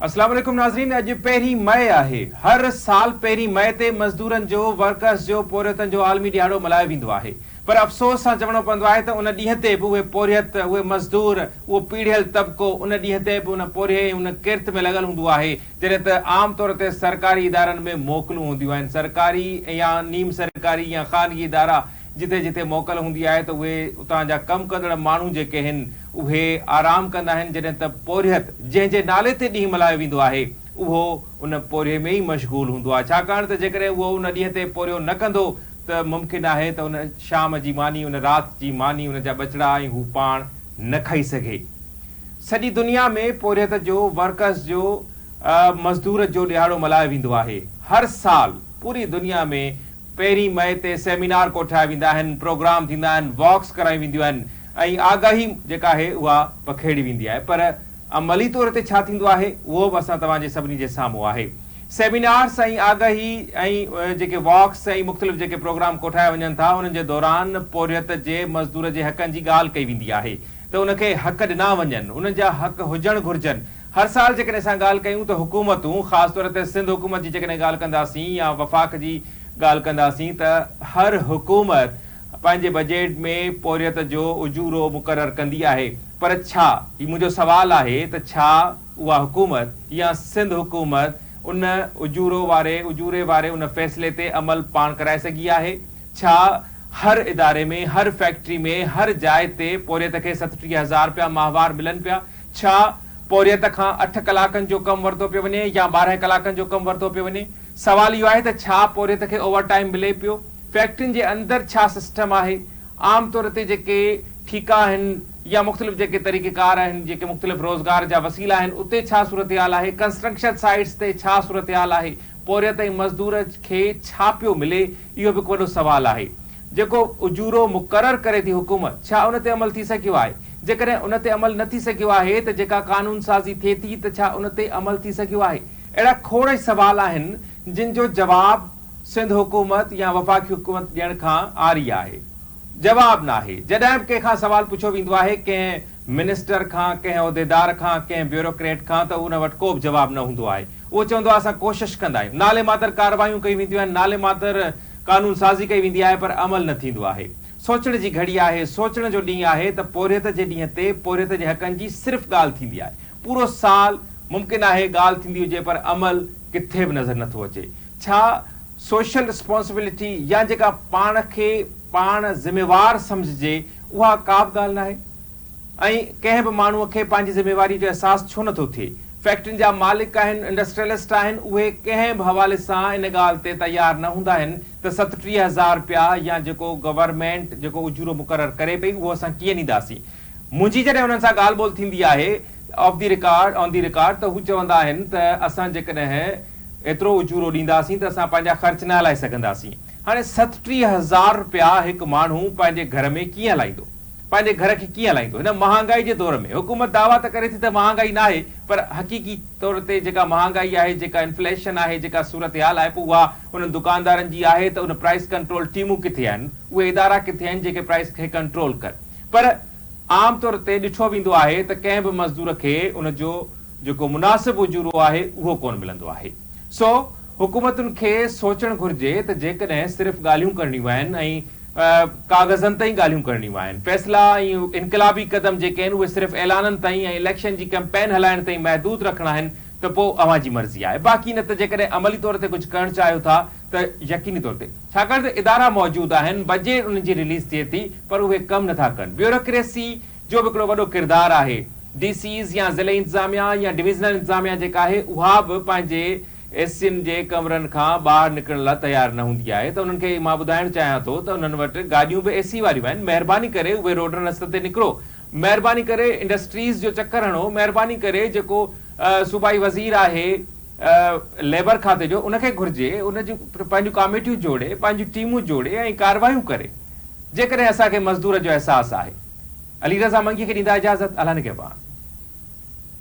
اسلام عليڪم ناظرين اڄ پهرين مئي آهي هر سال پهرين مئي تي مزدورن جو ورڪرس جو پورهيتن جو عالمي ڏيهاڙو ملهايو ويندو آهي پر افسوس سان چوڻو پوندو آهي ته ان ڏينهن تي به اهي پورهيت اهي مزدور اهو پيڙهيل طبقو ان ڏينهن تي به ان پورهئي ۽ ان ڪرت ۾ لڳل هوندو آهي جڏهن ته عام طور تي سرڪاري ادارن ۾ موڪلون هونديون آهن سرڪاري يا نيم سرڪاري يا خانگي ادارا جتي جتي موڪل هوندي آهي ته اهي اتان جا ڪم ڪندڙ ماڻهو جيڪي هن اهي آرام ڪندا آهن جڏهن ته پورهيت جنهن جي نالي تي ڏينهن ملهايو ويندو آهي اهو ان پورهيي ۾ ئي مشغول هوندو آهي ڇاڪاڻ ته جيڪڏهن اهو ان ڏينهن تي پورهيو نه ڪندو ته ممڪن آهي ته ان شام جي ماني ان رات جي ماني ان جا ٻچڙا ۽ هو پاڻ نه کائي سگهي سڄي دنيا ۾ پورهيت جو ورڪرس جو مزدور جو ڏهاڙو ملهايو ويندو آهي هر سال پوري دنيا ۾ پهرين مئي تي سيمينار ڪوٺايا ويندا آهن، پروگرام ٿيندا آهن، واڪس ڪرايون وينديون آهن ۽ آگاهي جيڪا آهي اها پکيڙي ويندي آهي پر عملي طور تي ڇا ٿيندو آهي اهو به اسان توهان جي سڀني جي سامهون آهي. سيمينارز ۽ آگاهي ۽ جيڪي واڪس ۽ مختلف جيڪي پروگرام ڪوٺايا وڃن ٿا انهن جي دوران پورهيت جي مزدور جي حقن جي ڳالهه ڪئي ويندي آهي ته ان کي حق ڏنا وڃن، انهن جا حق هجڻ گهرجن هر سال جيڪڏهن اسان ڳالهه ڪيون ته حڪومتون خاص طور تي سنڌ حڪومت جي جيڪڏهن ڳالهه ڪنداسين يا وفاق جي ڳالهه ڪنداسين ته هر حڪومت پنهنجي بجيٽ ۾ پورهيت جو اجورو مقرر ڪندي آهي پر ڇا هي منهنجو سوال آهي ته ڇا اها حڪومت يا سنڌ حڪومت ان اجورو واري اجوري واري ان فيصلي تي عمل پاڻ ڪرائي سگهي آهي ڇا هر اداري ۾ هر فيڪٽري ۾ هر جاء تي پورهيت کي ستٽيهه هزار رپيا ماهوار ملن پيا ڇا پورهيت کان اٺ ڪلاڪن جو ڪم ورتو پيو وڃي يا ٻارهن ڪلاڪن جو ڪم ورتو پيو وڃي؟ سوال اهو آهي ته ڇا پورهيت کي اوور ٽائيم ملي پيو؟ فيڪٽرين جي اندر ڇا سسٽم آهي؟ عام طور تي جيڪي ٺيڪا آهن يا مختلف جيڪي طريقيڪار آهن، جيڪي مختلف روزگار جا وسيلا آهن، اتي ڇا صورتحال آهي؟ ڪنسٽرڪشن سائيٽس تي ڇا صورتحال آهي؟ پورهيت ۽ مزدور کي ڇا پيو ملي؟ اهو به هڪ وڏو سوال آهي. جيڪو اجورو مقرر ڪري ٿي حڪومت، ڇا ان تي عمل ٿي سگهيو آهي؟ جيڪڏهن ان تي عمل نه ٿي سگهيو آهي ته جيڪا قانون سازي ٿئي ٿي ته ڇا ان تي عمل ٿي سگهيو آهي؟ اهڙا کوڙ ئي سوال آهن جن جو جواب سنڌ حڪومت يا وفاقي حڪومت ڏيڻ کان عاري آهي. جواب ناهي. جڏهن به ڪنهن کان سوال پڇيو ويندو آهي ڪنهن منسٽر کان، ڪنهن عهديدار کان، ڪنهن بيوروڪريٽ کان ته ان وٽ ڪو به جواب نه هوندو آهي. اهو چوندو آهي اسان ڪوشش ڪندا آهيون. نالي ماتر ڪارروايون ڪيون وينديون آهن، نالي ماتر قانون سازي ڪئي ويندي آهي پر عمل نه ٿيندو آهي. سوچڻ جي گهڙي آهي، سوچڻ جو ڏينهن آهي ته پورهيت جي ڏينهن تي پورهيت جي حقن جي صرف ڳالهه ٿيندي آهي. پورو سال ممڪن آهي ڳالهه ٿيندي هجي پر عمل ڪٿي به نظر نه ٿو اچي. ڇا سوشل رسپانسبلٽي يا جيڪا پاڻ کي پاڻ ذميوار سمجهجي اها ڪابه ڳالهه ناهي ۽ ڪنهن به ماڻهوء کي پنهنجي ذميواريء جو احساس ڇو نٿو ٿئي؟ فيڪٽرين جا مالڪ آهن، انڊسٽريلسٽ آهن، اهي ڪنهن به حوالي سان ان ڳالهه تي تيار نه هوندا آهن ته ستٽيهه هزار رپيا يا جيڪو گورنمينٽ جيڪو اجورو مقرر ڪري پئي اهو اسان ڪيئن ڏينداسين؟ منهنجي جڏهن انهن سان ڳالهه ٻولهه ٿيندي آهي off the record, On the Record، ته هو چوندا آهن ته اسان جيڪڏهن ايترو اجورو ڏينداسين ته اسان پنهنجا خرچ نه هلائي سگهنداسين. هاڻي ستٽيهه هزار رپيا هڪ ماڻهو پنهنجي گهر ۾ ڪيئن هلائيندو؟ پنهنجي گهر کي ڪيئن هلائيندو؟ هن مهانگائي جي دور ۾ حڪومت دعويٰ ته ڪري ٿي ته مهانگائي ناهي پر حقيقي طور تي جيڪا مهانگائي آهي، جيڪا انفليشن آهي، جيڪا صورتحال آهي پوء اها انهن دڪاندارن جي آهي ته ان پرائس ڪنٽرول ٽيمون ڪٿي آهن؟ اهي ادارا ڪٿي آهن جيڪي پرائس کي ڪنٽرول ڪن؟ پر عام طور تي ڏٺو ويندو آهي ته ڪنهن به مزدور کي ان جو جيڪو مناسب اجورو آهي اهو ڪونه ملندو آهي. سو حڪومتن کي سوچڻ گهرجي ته جيڪڏهن صرف ڳالهيون ڪرڻيون آهن ۽ ڪاغذن تائين ڳالهيون ڪرڻيون آهن، فيصلا ۽ انقلابي قدم جيڪي آهن اهي صرف اعلانن تائين ۽ اليڪشن جي ڪئمپين هلائڻ تائين محدود رکڻا آهن ته پوء اوهان جي مرضي آهي باقي نه ته جيڪڏهن عملي طور تي ڪجهه ڪرڻ چاهيو ٿا ته يقيني طور تي ڇاڪاڻ ته ادارا موجود آهن، بجيٽ انهن جي رليز ٿئي ٿي پر اهي ڪم نه ٿا ڪن، بيوروڪريسي جو به هڪڙو وڏو ڪردار آهي. ڊي سيز يا ضلعي انتظاميا يا ڊويزنل انتظاميا جيڪا آهي اها به پنهنجي اي سين جي ڪمرن کان ٻاهر نڪرڻ لا تيار نه هوندي آهي ته انهن کي مان ٻڌائڻ چاهيان ٿو ته انهن وٽ گاڏيون به اي سي واريون آهن مهرباني ڪري اهي روڊن رستن تي نڪرو مهرباني ڪري انڊسٽريز جو چڪر هڻو مهرباني ڪري جيڪو صوبائي وزير آهي ليبر کاتي جو ان کي گهرجي ان جون پنهنجون ڪاميٽيون جوڙي پنهنجون ٽيمون جوڙي ۽ ڪاروايون ڪري. جيڪڏهن اسان کي مزدور جو احساس آهي. علي رضا منگي کي ڏيندا اجازت الهن کي پاڻ.